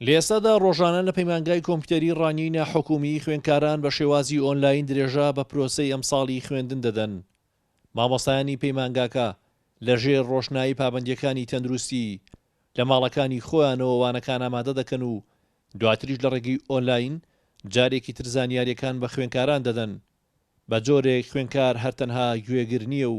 لەئێستادا ڕۆژانە لە پەیمانگای کۆمپیوتەری ڕانیەی ناحکومیی خوێندکاران بە شێوازی ئۆنلاین درێژە بە پرۆسەی ئەمساڵی خوێندن دەدەن. مامۆستایانی پەیمانگاکە لە ژێر ڕۆشنایی پابەندییەکانی تەندروستی لە ماڵەکانی خۆیانەوە وانەکان ئامادە دەکەن و دواتریش لە ڕێگەی ئۆنلاین جارێکی تر زانیارییەکان بە خوێنکاران دەدەن بە جۆرێک خوێنکار هەر تەنها گوێگر نییە و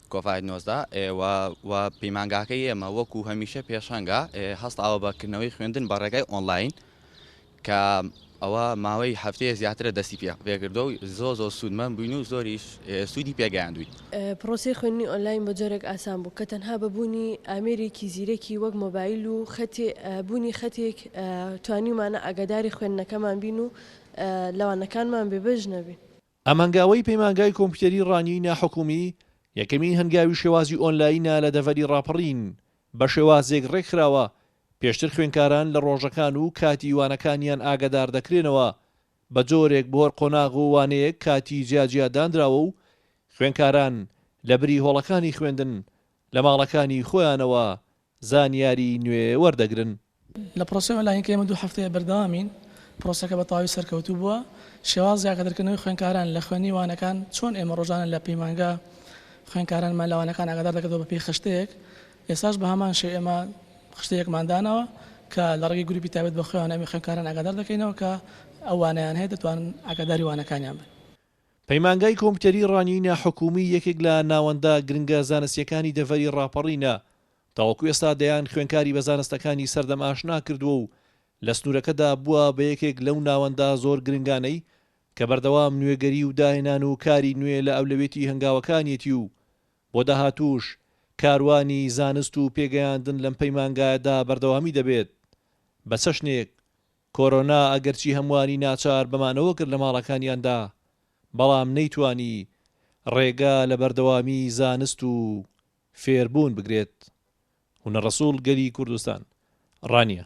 کۆڤاید نۆزدە و پەیمانگاکەی ئێمە وەکو هەمیشە پێشەنگە هەستاوە بە کردنەوەی خوێندن بە ڕێگای ئۆنلاین کە ئەوە ماوەی هەفتەیە زیاترە دەستی پێ پێکردەوە و زۆر زۆر سوودمەند بووین و زۆریش سوودی پێگەیاندووین. پڕۆسەی خوێندنی ئۆنلاین بە جۆرێک ئاسان بوو کە تەنها بە بوونی ئامێرێکی زیرەکی وەک مۆبایل و بوونی خەتێک توانیومانە ئاگاداری خوێندنەکەمان بین و لە وانەکانمان بێبەش نەبین. ئەم هەنگاوەی پەیمانگای کۆمپیوتەری ڕانیەی ناحکومی، یەکەمین هەنگاوی شێوازی ئۆنلاینە لە دەڤەری ڕاپەڕین، بە شێوازێک ڕێکخراوە، پێشتر خوێنکاران لە ڕۆژەکان و کاتی وانەکانیان ئاگادار دەکرێنەوە، بە جۆرێک بۆ هەر قۆناغ و وانەیەک کاتی جیا جیا دانراوە و خوێنکاران لە بری هۆڵەکانی خوێندن لە ماڵەکانی خۆیانەوە زانیاری نوێ وەردەگرن. لە پرۆسەی ئۆنلاین کە ئێمە دوو هەفتەیە بەردەوامین، پرۆسەکە بە تەواوی سەرکەوتوو بووە. شێوازی ئاگادرکردنەوەی خوێندکاران لە خوێندنی وانەکان، چۆن ئێمە ڕۆژانە لە پەیمانگا خوێندکارانمان لە وانەکان ئاگادار دەکردەوە بەپێی خشتەیەک، ئێستاش بە هەمان شێوە ئێمە خشتەیەکمان داناوە کە لە ڕێگەی گروپی تایبەت بە خۆیانەوە ئێمە خوێندکاران ئاگادار دەکەینەوە کە ئەو وانەیان هەیە دەتوانن ئاگاداری وانەکانیان بن. پەیمانگای کۆمپیوتەری ڕانیەی ناحکوومی یەکێک لە ناوەندە گرنگە زانستییەکانی دەڤەری ڕاپەڕینە، تاوەکو ئێستا دەیان خوێنکاری بە زانستەکانی سەردەم ئاشنا کردووە و لە سنوورەکەدا بووە بە یەکێک لەو ناوەندە زۆر گرنگانەی کە بەردەوام نوێگەری و داهێنان و کاری نوێ لە ئەولەوێتی هەنگاوەکانیەتی و بۆ داهاتووش کاروانی زانست و پێگەیاندن لەم پەیمانگایەدا بەردەوامی دەبێت بە چەشنێک کۆرۆنا ئەگەرچی هەمووانی ناچار بە مانەوە کرد لە ماڵەکانیاندا، بەڵام نەیتوانی ڕێگە لە بەردەوامی زانست و فێربوون بگرێت و نە ڕەسوڵ گەلی کوردستان ڕانیە.